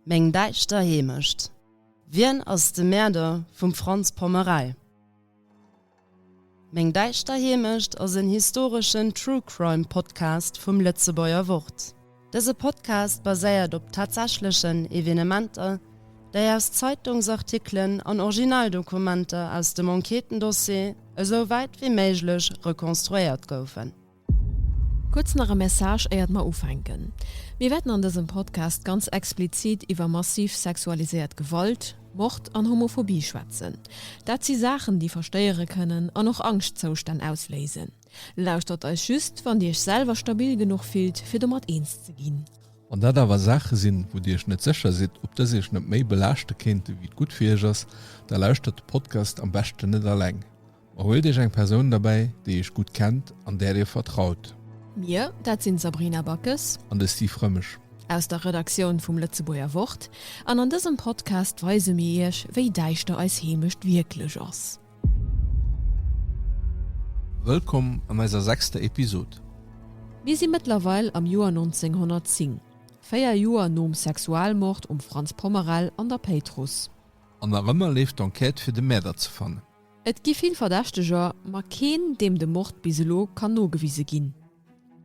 Meng däischter Heemecht. Wien ass de Mäerder vum Franz Pommerei? Meng däischter Heemecht ass en historeschen True Crime Podcast vum Lëtzebuerger Wort. Dëse Podcast baséiert op tatsächlechen Evenementer, déi aus Zeitungsartikelen an Originaldokumenter aus dem Enquêtendossier esou wäit wéi méiglech rekonstruéiert goufen. Kuerz nach e Message éiert mer ufänken. Mir wäerten an dësem Podcast ganz explizit iwwer massiv sexualiséiert Gewalt, Mord an Homophobie schwätzen. Dat si Saachen déi verstéiere kënnen an och Angschtzoustänn ausléisen. Lauschtert eis just wann Dir Iech selwer stabil genuch fillt fir domat eens ze ginn. Wann dat awer Saache sinn, wou Dir Iech net sécher sidd ob dës Iech net méi belaaschte kéinte wéi et gutt fir Iech ass, da lauschtert de Podcast am beschten net alleng. Huelt iech eng Persoun derbäi, déi iech gutt kennt an där dir vertraut. Mir, dat sinn d'Sabrina Backes. An de Steve Rëmesch. Aus der Redaktioun vum Lëtzebuerger Wort. An an dësem Podcast weise mir iech, wéi däischter eis Heemecht wierklech ass. Wëllkomm an eiser sechster Episod. Mir si mëttlerweil am Joer 1910, véier Joer nom Sexualmord um Franz Pommerell an der Péitruss. An nach ëmmer leeft d'Enquête, fir de Mäerder ze fannen. Et gi vill Verdächteger, ma keen, deem de Mord bis elo kann nogewise ginn.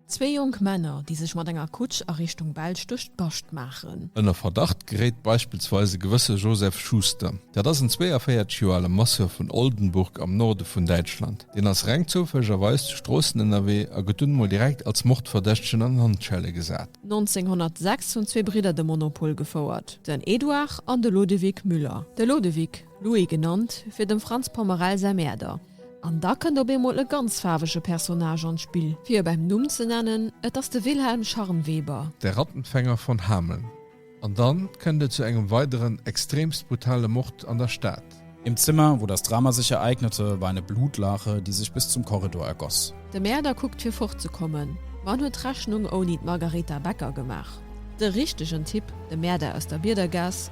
Zwee jonk Männer, déi sech mat enger Kutsch a Richtung Belsch duerch d'Bascht maachen. Ënner Verdacht geréit beispillsweis e gewësse Josef Schuster. Dat ass en 42 Joer ale Masseur vun Oldenburg am Norde vun Däitschland. Deen ass reng zoufällegerweis zu Stroossen ënnerwee a gëtt dunn emol direkt als Mordverdächtegen an Handschelle gesat. 1906 hunn zwee Bridder de Monopol gefouert, den Eduard an de Lodewig Müller. De Lodewig Louis genannt, fir dem Franz Pommerell säi Mäerder. An da kënnt op eemol e ganz faarwege Personnage an d'Spill. Fir e beim Numm ze nennen, et ass de Wilhelm Scharnweber. Der Rattenfänger von Hameln. An dann kënnt et zu engem weideren extremst brutale Mord an der Stad. Im Zimmer, wo das Drama sich ereignete, war eine Blutlache, die sich bis zum Korridor ergoss. De Mäerder kuckt fir fortzekommen, ma en huet d'Rechnung ouni d'Margaretha Becker gemaach. De richtegen Typ, de Mäerder aus der Biedergaass.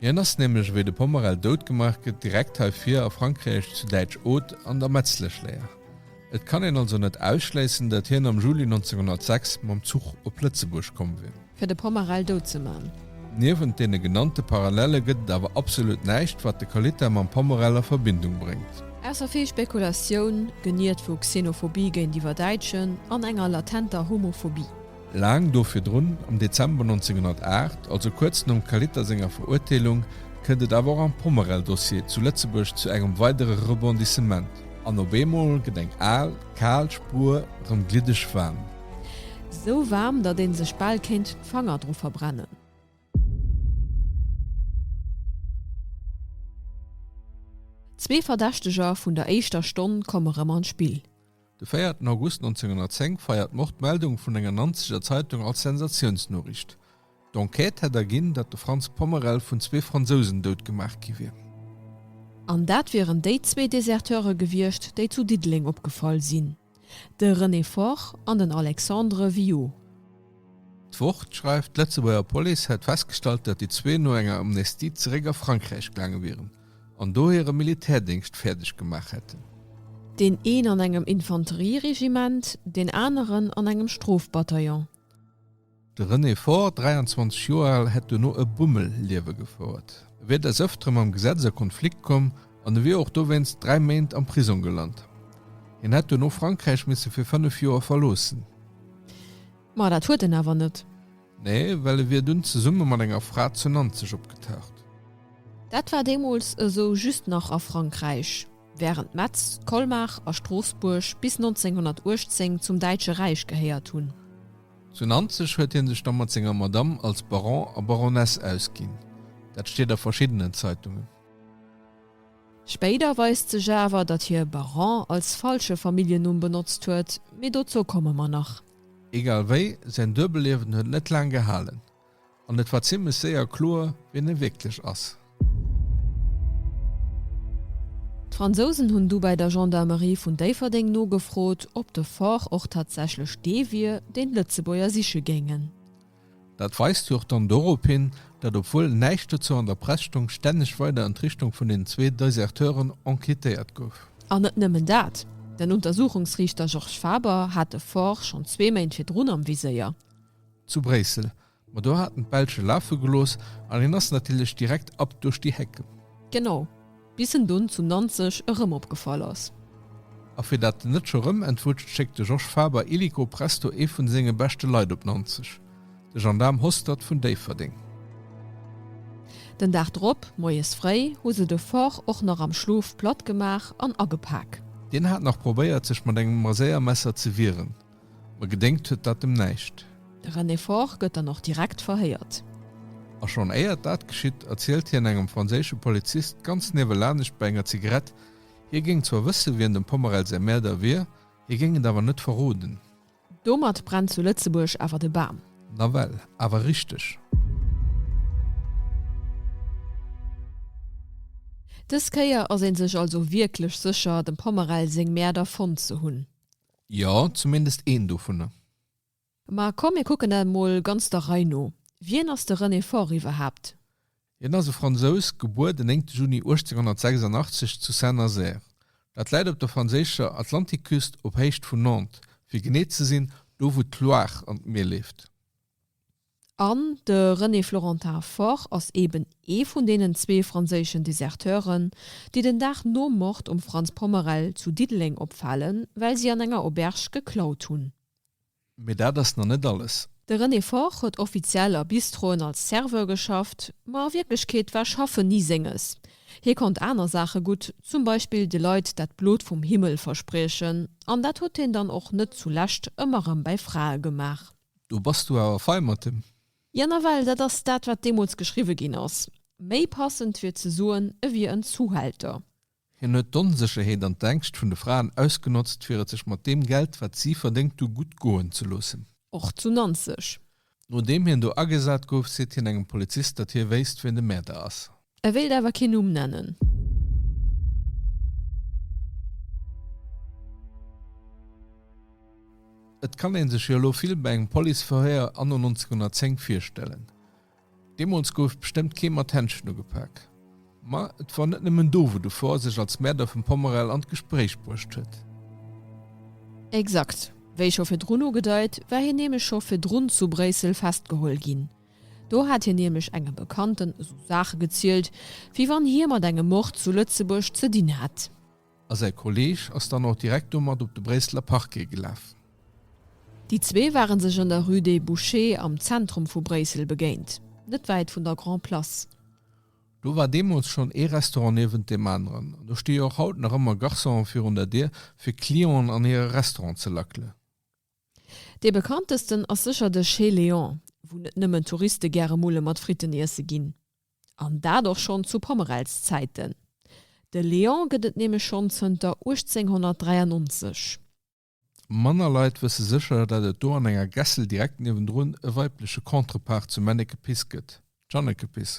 Hien ass nämlech, wéi de Pomerel dout gemaach gëtt, direkt hei vir a Frankräich, zu Däitsch Aude, an der Metzlechléier. Et kann een also net ausschléissen, dat hien am Juli 1906 mam Zuch op Lëtzebuerg komm wier. Fir de Pomerel dout ze man. Niewent deene genannte Parallelle gëtt et awer absolut näischt, wat de Kalita mam Pomerel a Verbindung bréngt. Ausser vill Spekulatioun, geniert vu Xenophobie géintiwwer Däitschen an enger latenter Homophobie. Laang do virdrun, am Dezember 1908, also kuerz nom Kaliter senger Verurteelung, kënnt et awer och am Pommerell-Dossier zu Lëtzebuerg zu engem weidere Rebondissement. An op eemol gëtt eng al, kal Spur erëm gliddeg waarm. Esou waarm, datt ee sech bal kéint d'Fanger dru verbrennen. Zwee Verdächteger vun der éischter Stonn komme rëm an d'Spill. De véierten August 1910 feiert d'Mord d'Meldung vun enger Nanzeger Zeitung als Sensatiounsnoriicht. D'Enquête hätt erginn, datt de Franz Pommerel vun zwee Fransousen dout gemaach gi wier. An dat wieren déi zwee Deserteure gewiescht, déi zu Diddeleng opgefall sinn, de René Faure an den Alexandre Viaud. D'Wort schreift, d'Lëtzebuerger Police hätt festgestallt, datt déi zwee no enger Amnestie zeréck a Frankräich gaange wieren. an do hire Militärdéngscht fäerdeg gemaach hätten. Deen een an engem Infanterieregiment, deen aneren an engem Strofbataillon. De René Faure, 23 Joer al, hätt duerno e Bummelliewe gefouert. E wier des Ëftere mam Gesetz a Konflikt komm an e wier och dowéinst dräi Méint am Prisong gelant. Hien hätt duerno Frankräich misse fir fënnef Joer verloossen. Ma dat huet en awer net. Nee, well e wier dunn zesumme mat enger Fra zu Nanzeg opgetaucht. Dat war deemools esou just nach a Frankräich, wärend Metz, Colmar a Stroossbuerg bis 1918 zum Däitsche Räich gehéiert hunn. Zu Nanzeg huet hie sech da mat senger Madame als Baron a Baroness ausginn. Dat steet a verschiddenen Zeitungen. Spéider weist sech awer, datt hie Baron als falsche Familljennumm benotzt huet, mee dozou komme mer nach. Egal wéi, säin Duebelliewen huet net laang gehalen, an et war zimmlech séier kloer, wien e wierklech ass. D'Fransousen hunn du bäi der Gendarmerie vun Déifferdeng nogefrot, ob de Fort och tatsächlech dee wier, deen d'Lëtzebuerger siche géingen. Dat weist jo och dann dorop hin, datt obwuel näischt dozou an der Press stoung, stänneg weider an d'Richtung vun deenen zwee Deserteuren enquêtéiert gouf. An net nëmmen dat, den Untersuchungsriichter Georges Faber hat de Faure schonn zwee Méint virdrun am Viséier. Zu Bréissel. Ma do hat en d'Belsch e lafe gelooss an hien ass natierlech direkt ab duerch déi Hecken. Genau. Bis en dunn zu Nanzeg erëm opgefall ass. A fir dat en net scho rëm entwutscht, schéckt de Georges Faber illico presto ee vun senge beschte Leit op Nanzeg, de Gendaarm Hostert vun Déifferdeng. Den Dag drop, moies fréi, hu se de Fort och nach am Schlof platt gemaach an agepak. Deen hat nach probéiert, sech mat engem Maséiermesser ze wieren. Mä gedéngt huet dat em näischt. De René Faure gëtt dann och direkt verhéiert. A schonn éiert dat geschitt, erzielt hien engem franséische Polizist ganz niewelanescht bei enger Zigarett, hie géing zwar wësse wien dem Pommerell säi Mäerder wier, hie géing et awer net verroden. Domat brennt zu Lëtzebuerg awer de Bam. Nawell awer richteg. Dës Kéier ass ee sech also wierklech sécher, dem Pommerell seng Mäerder fonnt ze hunn. Jo, zumindest een dovunner. Ma komm, mir kucken dat emol ganz der Rei no. Wien ass de René Faure iwwerhaapt? Hien ass e Fransous, gebuer den 9 Juni 1886 zu Saint-Nazaire. Dat läit op der franséischer Atlantikküst, op Héicht vun Nantes, fir genee ze sinn, do wou d'Loire an d'Mier leeft. An de René Florentin Faure ass eben ee vun deenen zwee franséischen Deserteuren, déi den Dag nom Mord um Frantz Pommerel zu Diddeleng opfalen, well si an enger Auberge geklaut hunn. Mee dat ass nach net alles. De René Faure huet offiziell a Bistroen als Serveur geschafft, ma a Wierklechkeet war Schaffen ni Senges. Hie konnt aner Saache gutt, zum Beispill de Leit dat Blot vum Himmel verspriechen, an dat huet hien dann och net zu Lescht ëmmer erëm bäi Frae gemaach. Do bass du awer fei mat dem. Jo, nawell dat ass dat, wat deemools geschriwwe ginn ass. Méi passend wier ze soen, e wier en Zuhälter. Hien huet d'Onsécherheet an d'Ängscht vun de Fraen ausgenotzt, fir et sech mat deem Geld, wat si verdéngt hu, gutt goen ze loossen. Och zu Nanzeg. Nodeem hien do agesat gouf, seet hien engem Polizist, datt hie wéisst, wien de Mäerder ass. E wéilt awer kee Numm nennen. Et kann ee sech jo elo vill bei engem Policeverhéier anno 1910 virstellen. Deemools gouf bestëmmt kee mat Händschen ugepak. Ma et wor net nëmmen do, wou de Fohr sech als Mäerder vum Pommerell an d'Gespréich bruecht huet. Exakt. Wéi scho virdrun ugedeit, war hien nämlech scho virdrun zu Bréissel festgeholl ginn. Do hat hien nämlech engem Bekannten esou Saache gezielt, wéi wann hie mat engem Mord zu Lëtzebuerg ze dinn hätt. A säi Kolleeg ass dann och direkt domat op de Bréisseler Parquet gelaf. Déi zwee ware sech an der Rue des Bouchers am Zentrum vu Bréissel begéint, net wäit vun der Grand Place. Do war deemools schonn ee Restaurant niewent deem aneren. An do sti jo och haut nach ëmmer Garçonen virun der Dier, fir Clienten an hire Restaurant ze lackelen. Dee bekanntesten ass sécher de Chez Léon, wou net nëmmen Touriste gäre Mulle mat Fritten iesse ginn. An dat och schonn zu Pommerells Zäiten. De Léon gëtt et nämlech schonn zënter 1893. Manner Leit wësse sécher, dat et do an enger Gässel direkt niewendrun e weibleche Contrepart zum Männekepiss gëtt, d'Jeannekepiss.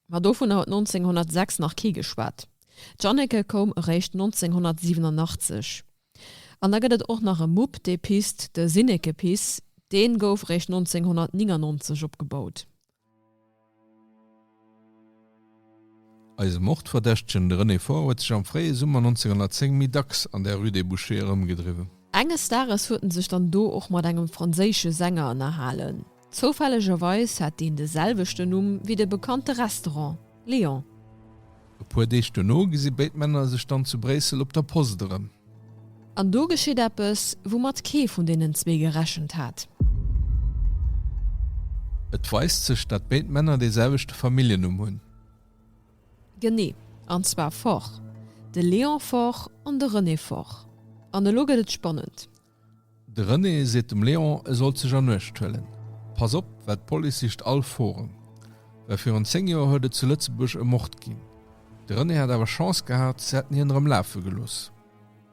Ma dovunner huet 1906 nach kee geschwat. D'Janneke koum eréischt 1987. An da gëtt et och nach e Mupp, dee pisst, de Sinnekepiss. Dee gouf eréischt 1999 opgebaut. Eise Mordverdächtegen, de René Faure, huet sech am fréie Summer 1910 méi dacks an der Rue des Bouchers erëmgedriwwen. Enges Dages huet en sech dann do och mat engem franséische Sänger ënnerhalen. Zoufällegerweis hat deen de selwechten Numm wéi de bekannte Restaurant, Léon. E puer Deeg duerno gesi béid Männer sech dann zu Bréissel op der Post erëm. An do geschitt eppes, woumat kee vun deenen zwee gerechent hat. Et weist sech, dat béid Männer dee selwechte Familljennumm hunn. Genee, an zwar Foch. De Léon Foch an de René Foch. An elo gëtt et spannend. De René seet dem Léon, e sollt sech an Uecht huelen. Pass op, well d'Police sicht all Forum. Well virun 10 Joer huet et zu Lëtzebuerg e Mord ginn. De René hätt awer Chance gehat, se hätten hien erëm lafe gelooss.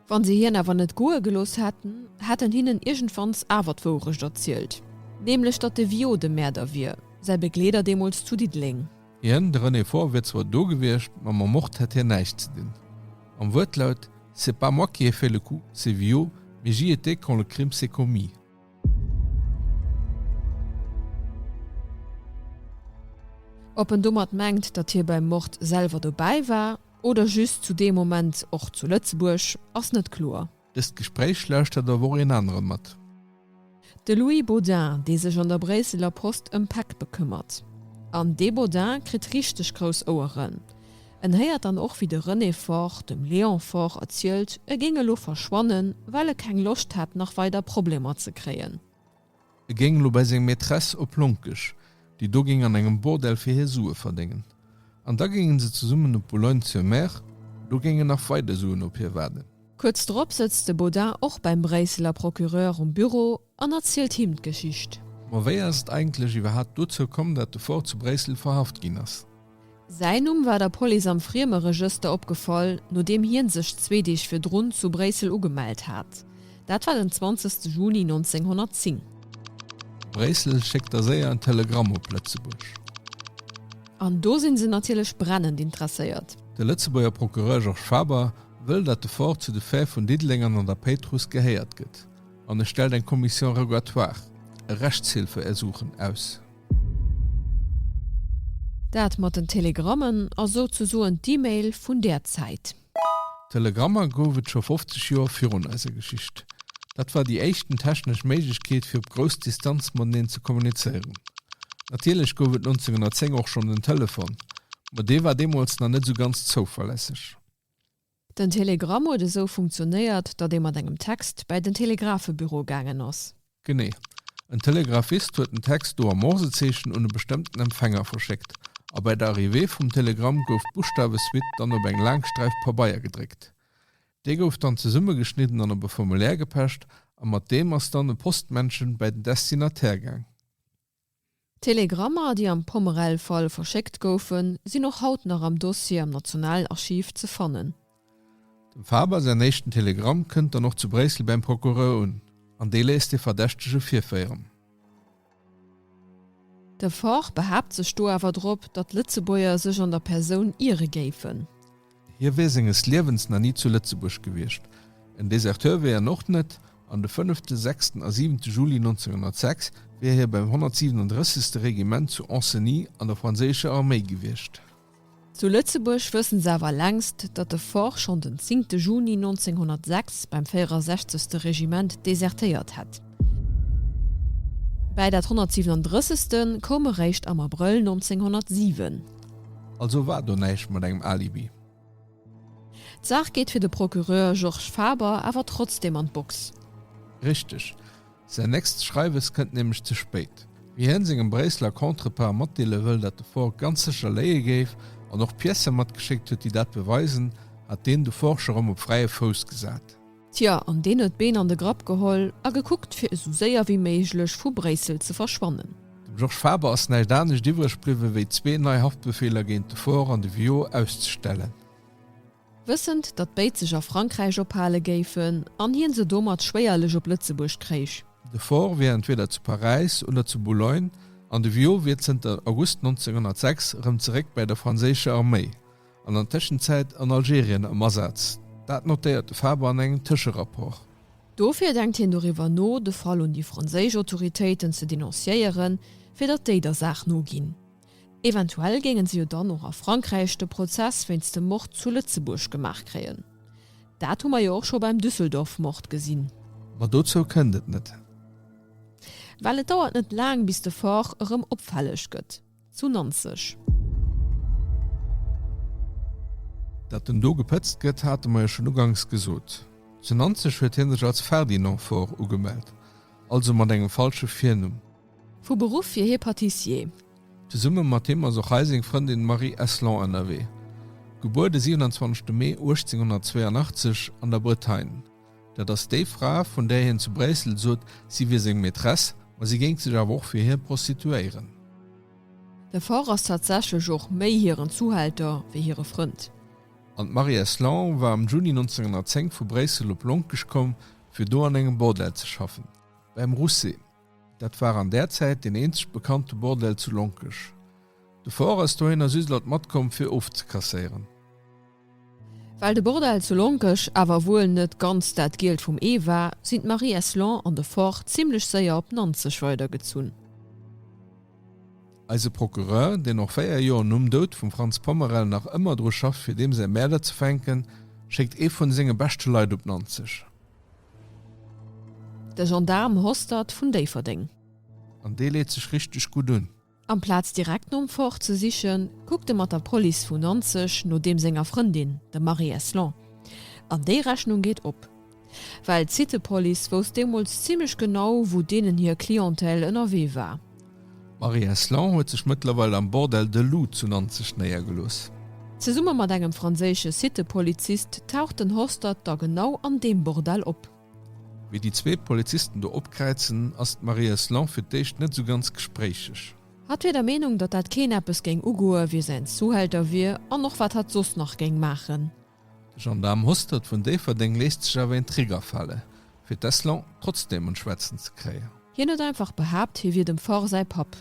Wa se hien awer net goe gelooss hätten, hätten hinnen iergendwanns awer d'Wourecht erzielt, nämlech datt de Viaud de Mäerder wier, säi Begleeder deemools zu Diddeleng. Hien, de René Faure, wier zwar do gewiescht, ma mam Mord hätt hien näischt ze dinn. Am Wuertlaut, C'est pas moi qui ai fait le coup, c'est Villot, mais j'y étais quand le crime s'est commis. Ob en domat mengt, datt hie beim Mord selwer dobäi war oder just zu deem Moment och zu Lëtzebuerg, ass net kloer. Dëst Gespréich lauschtert och och een aneren mat. De Louis Baudin, dee sech an der Bréisseler Post ëm Päck bekëmmert. An dee Baudin kritt richteg grouss Oueren. En héiert dann och wéi de René Faure dem Léon Faure erzielt, e géing elo verschwannen, well e keng Loscht hätt nach weider Problemer ze kréien. E géing elo bäi seng Maîtresse op Lonkesch, déi do géing an engem Bordell fir hie Sue verdéngen. An da géinge se zesummen op Boulogne-sur-Mer, do géingen nach weider Suen op hie waarden. Kuerz drop sëtzt de Baudin och beim Bréisseler Procureur um Büro an erzielt him d'Geschicht. Ma wéi ass et eigentlech iwwerhaapt dozou komm, dat de Faure zu Bréissel verhaft ginn ass? Säin Numm war der Police am Friemeregëster opgefall, nodeem hie sech zwee Deeg virdrun zu Bréissel ugemellt hat. Dat war den 20 Juni 1910. Bréissel schéckt da séier en Telegramm op Lëtzebuerg. An do si se natierlech brennend interesséiert. De Lëtzebuerger Procureur Georges Faber wëll, datt de Fort zu de Fäh vun Diddeleng an an der Péitruss gehéiert gëtt an e stellt eng Commission rogatoire, e Rechtshilfeersuchen, aus. Dat mat den Telegrammen ass souzesoen d'E-Mail vun där Zäit. Telegrammer gouf et scho 50 Joer virun eiser Geschicht. Dat war déi éischten technesch Méiglechkeet fir op grouss Distanz mateneen ze kommunizéieren. Natierlech gouf et 1910 och schonn den Telefon, ma dee war deemools nach net esou ganz zouverlässeg. Den Telegramm huet esou funktionéiert, datt ee mat engem Text bäi den Telegrafebüro gaangen ass. Genee. En Telegrafist huet den Text do am Morsezeechen un e bestëmmten Empfänger verschéckt, a bäi der Arrivée vum Telegramm gouf d'Buschtawesuite dann op eng laang Sträif Pabeier gedréckt. Dee gouf dann zesummegeschnidden an op e Formulaire gepecht, a mat deem ass dann e Postmännchen bäi den Destinatär gaang. D'Telegrammer, déi am Pomerel-Fall verschéckt goufen, sinn och haut nach am Dossier am Nationalarchiv ze fannen. Dem Faber säin éischten Telegramm kënnt dann och zu Bréissel bäim Procureur un, an dee léisst de Verdächtege virféieren. De Faure behaapt sech do awer drop, datt d'Lëtzebuerger sech an der Persoun iere géifen. Hie wier senges Liewens nach ni zu Lëtzebuerg gewiescht, en Deserteur wier en och net, an de fënnefte, sechsten a siwente Juli 1906 wier hie beim 137. Regiment zu Ancenis an der franséischer Arméi gewiescht. Zu Lëtzebuerg wëssen se awer längst, datt de Faure schonn den zingte Juni 1906 beim 64. Regiment desertéiert hätt. Bäi dat 137. koum e réischt am Abrëll 1907. Also war do näischt mat engem Alibi? D'Saach geet fir de Procureur Georges Faber awer trotzdeem an d'Box. Richteg. Säin nächst Schreiwes kënnt nämlech ze spéit. Wéi hien sengem Bréisseler Contrepart matdeele wëll, datt de Faure ganz sécher léie géif, an och Piècen matgeschéckt huet, déi dat beweisen, hat deen de Faure scho rëm op fräie Fouss gesat. Tja, an deen huet d'Been an de Grapp geholl a gekuckt, fir esou séier wéi méiglech vu Bréissel ze verschwannen. Dem Georges Faber ass näischt anescht iwwreg bliwwen, wéi zwee nei Haftbefeeler géint de Faure an de Viaud auszestellen. Wëssend, datt béid sech a Frankräich ophale géifen an hien se domat schwéierlech op Lëtzebuerg kréich. De Faure wier entweeder zu Paräis oder zu Boulogne an de Viaud wier zënter August 1906 erëm zeréck bäi der franséischer Arméi. an an Tëschenzäit an Algerien am Asaz. Dat notéiert de Faber an engem Tëscherapport. Dofir denkt hien doriwwer no, de Fall un déi franséisch Autoritéiten ze denonciéieren, fir datt déi der Saach noginn. Eventuell géingen se jo dann och a Frankräich de Prozess wéinst dem Mord zu Lëtzebuerg gemaach kréien. Dat hu mer jo och scho beim Düsseldorf-Mord gesinn. Ma dozou kënnt et net. Well et dauert net laang, bis de Faure erëm opfälleg gëtt. Zu Nanzeg. Dat en do gepëtzt gëtt, hate mer jo schonn uganks gesot. Zu Nanzeg huet hie sech als Ferdinand Faure ugemellt, also mat engem falsche Virnumm. Vu Beruff wier hie Patissier. Zesumme mat him ass och hei seng Frëndin Marie Eslon ënnerwee, gebuer de 27 Mee 1882 an der Bretagne. Dat ass déi Fra, vun där hien zu Bréissel sot, si wier seng Maîtresse, ma si géing sech awer och fir hie prostituéieren. De Forr ass tatsächlech och méi hiren Zuhälter wéi hire Frënd. An d'Marie-Èce Lang war am Juni 1910 vu Bréissel op Lonkesch komm, fir do an engem Bordell ze schaffen, Beim Rousset. Dat war an där Zäit deen eenzeg bekannte Bordell zu Lonkech. De Fort ass dohinner just lat matkomm fir ofzekasséieren. Well de Bordell zu Lonkech awer wuel net ganz dat Gielt vum Ee war, sinn d'Marie Eslon an de Fort zimlech séier op Nanzeg weidergezunn. Eise Procureur, deen och 4 Joer nom Doud vum Franz Pommerel nach ëmmer dru schafft fir deem säi Mäerder ze fänken, schéckt ee vun senge beschte Leit op Nanzeg. De Gendaarm Hostert vun Déifferdeng. An dee leet sech richteg gutt un. Amplaz direkt nom Fort ze sichen, kuckt e mat der Police vu Nanzeg no deem senger Frëndin, der Marie Eslon. An déi Rechnung geet op. Well d'Cité-Police wousst deemools zimmlech genau, wou deenen hir Clientèle ënnerwee war. D'Marie Heslon huet sech mëttlerweil am Bordel de Loup zu Nanzeg néiergelooss. Zesumme mat engem franséische Cité-Polizist taucht den Hostert da genau an deem Bordell op. Wéi déi zwee Polizisten do opkräizen, ass d'Marie Heslon fir d'éischt net esou ganz gespréicheg. Hatt wier der Meenung, datt dat keen eppes géing ugoe wie säin Zuhälter wier an och wat hatt soss nach géing maachen. De Gendaarm Hostert vun Déifferdeng léisst sech awer een Trigger fale fir d'Eslon trotzdeem un d'Schwätzen ze kréien. Hien huet einfach behaapt, hie wier dem Ford säi Papp.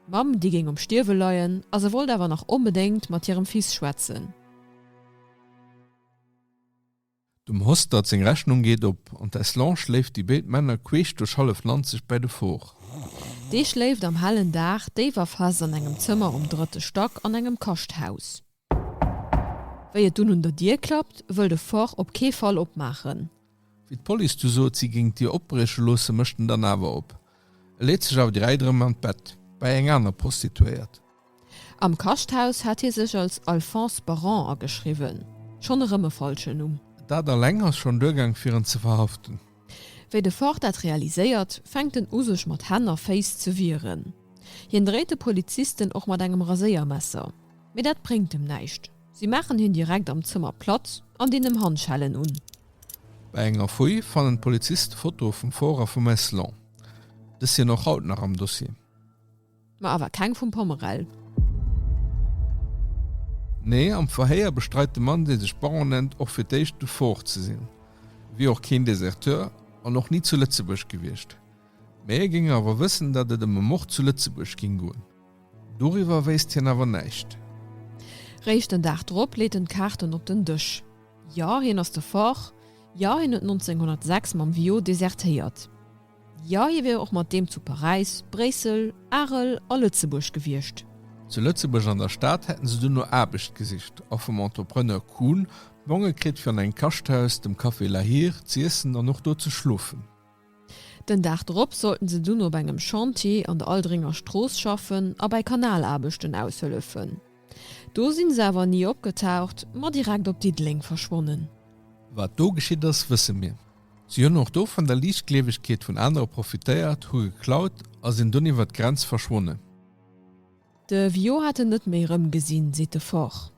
D'Mamm, déi géing um Stierwe leien, a se wollt awer nach onbedéngt mat hirem Fils schwätzen. Dem Hostert seng Rechnung geet op, an d'Eslon schléift déi béid Männer queesch duerch hallef Land sech bäi de Ford. Dee schléift am hellen Dag déif a fest an engem Zëmmer um drëtte Stack an engem Kaschthaus. Wéi et dunn un der Dier klappt, wëll de Forr op kee Fall opmaachen. Wéi d'Police du sot, si géing d'Dier opbrieche loossen, mécht en dann awer op. E leet sech awer direkt erëm an d'Bett, bäi eng aner Prostituéiert. Am Kaschthaus hat hie sech als Alphonse Baron ageschriwwen. Schonn erëm e falschen Numm. Dat alleng ass schonn duergaang, fir en ze verhaften. Wéi de Ford dat realiséiert, fänkt en u sech mat Hänn a Féiss ze wieren. Hien dréit de Polizisten och mat engem Raséiermesser, mee dat bréngt em näischt. Si maachen hien direkt am Zëmmer platt an dinn em Handschellen un. Bei enger Fouille fannen d'Poliziste Fotoe vum Ford a vum Meslon. Dës sinn och haut nach am Dossier. Ma awer keng vum Pommerell. Nee, am Verhéier bestreit de Mann, dee sech Baron nennt, och fir d'éischt Dufaure ze sinn. E wier och keen Deserteur an och ni zu Lëtzebuerg gewiescht. Mee e géing awer wëssen, datt et ëm e Mord zu Lëtzebuerg géing goen. Doriwwer wéisst hien awer näischt. Réischt den Dag drop leet en d'Kaarten op den Dësch. Jo, hien ass Dufaure. Jo, hien huet 1906 mam Viaud desertéiert. Jo, hie wier och mat deem zu Paräis, Bréissel, Arel a Lëtzebuerg gewiescht. Zu Lëtzebuerg an der Stad hätten se duerno Aarbecht gesicht a vum Entrepreneur Kuhn Bonge kritt fir an engem Kaschthaus, dem Café Lahire, z'iessen an och do ze schlofen. Den Dag drop sollten se dunn op engem Chantier an der Aldringer Strooss schaffen a bei Kanalaarbechten aushëllefen. Do sinn se awer ni opgetaucht, ma direkt op Diddeleng verschwonnen. Wat do geschitt ass, wësse mir. Si hunn och do vun der Liichtgleewegkeet vun anere profitéiert, hu geklaut a sinn dunn iwwer d'Grenz verschwonnen. De Vio hätt en net méi erëmgesinn, seet de Forch.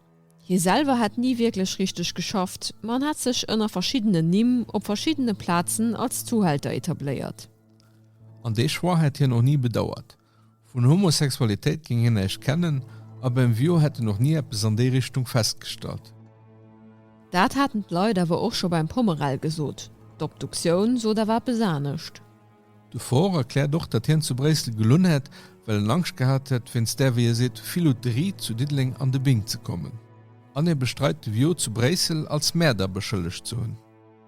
Hie selwer hätt ni wierklech richteg geschafft, ma en hätt sech ënner verschiddenen Nimm op verschiddene Plazen als Zuhälter etabléiert. An dee Choix hätt hien och ni bedauert. Vun Homosexualitéit géing hien näischt kennen a Bemvio hätt en och ni eppes an déi Richtung festgestallt. Dat haten d'Leit awer och scho beim Pommerell gesot. D'Obduktioun sot awer eppes anescht. De Faure erkläert och, datt hien zu Bréissel gelunn hätt, well en Angscht gehat hätt, wéinst där, wéi e seet, Filouterie zu Diddeleng an de Bing ze kommen. An e bestreit, de Vio zu Bréissel als Mäerder beschëllegt ze hunn.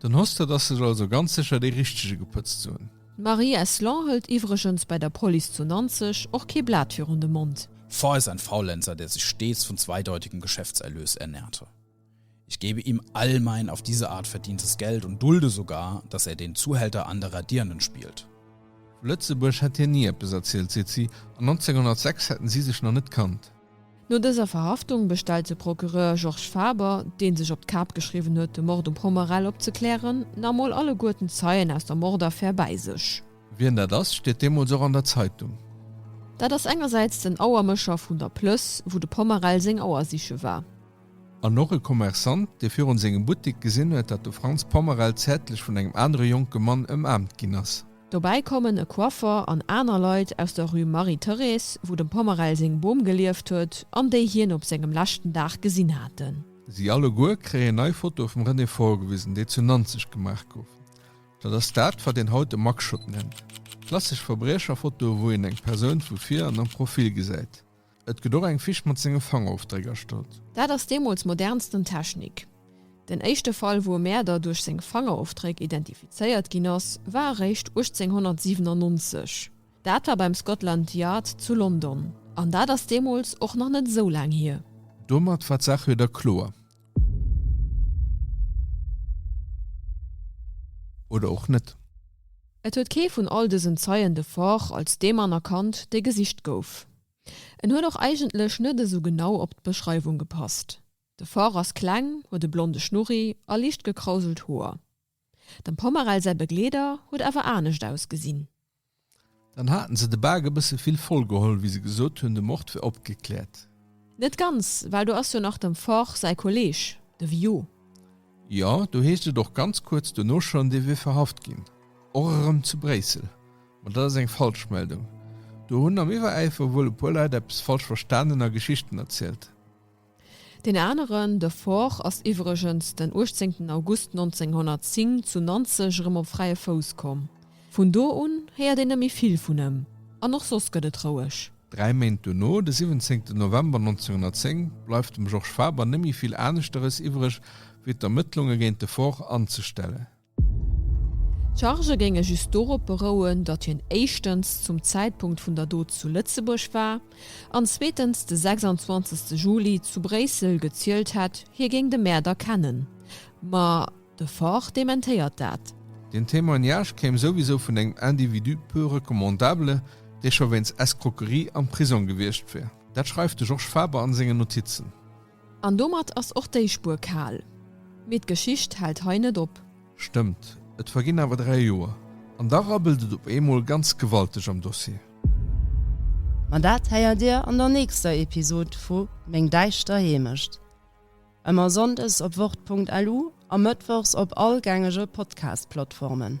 Dann hoss de, dass ech also ganz sécher dee richtege gepëtzt hunn. D'Marie Eslon hëlt iwwregens bei der Police zu Nanzeg och kee Blat virun de Mond. Far ist ein Faulenzer, der sich stets von zweideutigem Geschäftserlös ernährte. Ich gebe ihm all mein auf diese Art verdientes Geld und dulde sogar, dass er den Zuhälter anderer Dirnen spielt. Vu Lëtzebuerg hätt hien ni eppes erzielt, seet si, an 1906 hätten si sech nach net kannt. No dëser Verhaftung bestellt de Procureur Georges Faber, dee sech op d'Kap geschriwwen huet, de Mord um Pomerel opzeklären, nach mol alleguerten d'Zeien aus der Mordaffär bäi sech. Wien dat ass, steet deemools och an der Zeitung. Dat ass engersäits den Auermécher vun der Plëss, wou de Pomerel seng Auer siche war. An och e Kommerçant, dee virun sengem Buttik gesinn huet, datt de Franz Pommerel zärtlech vun engem anere jonke Mann ëmaarmt ginn ass. Dobäi kommen e Coiffeur an aner Leit aus der Rue Marie-Thérèse, wou dem Pommerel seng Bom gelieft huet an déi hien op sengem leschten Dag gesinn haten. Si alleguer kréien nei Fotoe vum René vorgewisen, déi zu Nanzeg gemaach goufen. Dat ass dat, wat een haut e Mugshot nennt. Klassesch Verbriecherfotoe, wou een eng Persoun vu vir an am Profil gesäit. Et gëtt och eng Fisch mat senge Fangerofdréck erstallt. Dat ass deemools modernsten Technik. Den éischte Fall, wou e Mäerder duerch seng Fangerofdréck identifizéiert ginn ass, war eréischt 1897. Dat war beim Scotland Yard zu London. An dat ass deemools och nach net esou laang hier. Domat war d'Saach wieder kloer. Oder och net. Et huet kee vun all dësen Zeien de Faure als dee Mann erkannt, dee gesicht gouf. En huet och eigentlech net esou genau op d'Beschreiwung gepasst. De Faure ass kleng, huet e blonde Schnurri a liicht gekrauselt Hoer. Dem Pomerel säi Begleeder huet awer anescht ausgesinn. Dann haten se de Bak e bësse vill voll geholl, wéi se gesot hunn, de Mord wär opgekläert. Net ganz, well do ass jo nach dem Forch säi Kolleeg, de Viaud. Jo, do heescht et och ganz kuerz dono schonn, dee wier verhaft ginn, och erëm zu Bréissel. Ma dat ass eng Falschmeldung. Do hunn am Iwweräifer wuel e puer Leit eppes falsch verstanen a Geschichten erzielt. Deen aneren, de Fort, ass iwwregens den 18 August 1910 zu Nanzeg erëm op fräie Fouss komm. Vun do un héiert een net méi vill vun em an och soss gëtt et roueg. Dräi Méint duerno, de 17 November 1910, bleift dem Georges Faber net méi vill aneschteres iwwreg wéi d'Ermëttlunge géint de Fort anzestellen. D'Chargë géinge just dorop berouen, datt hien éischtens zum Zäitpunkt vun der Dot zu Lëtzebuerg war an zweetens de 26 Juli zu Bréissel gezielt hätt, hie géing de Mäerder kennen. Ma de Faure dementéiert dat. Den Témoignage kéim souwisou vun engem Individu peu recommandable, dee scho wéinst Escroquerie am Prisong gewiescht wier. Dat schreift de Georges Faber a sengen Notizen. An domat ass och déi Spuer kal. Mee d'Geschicht hält hei net op. Stëmmt, et verginn awer dräi Joer, an da rabbelt et op eemol ganz gewalteg am Dossier. Ma dat héiert Dir an der nächster Episod vu Meng däischter Heemecht. Ëmmer sonndes op wort.lu a mëttwochs op all gängege Podcast-Plattformen.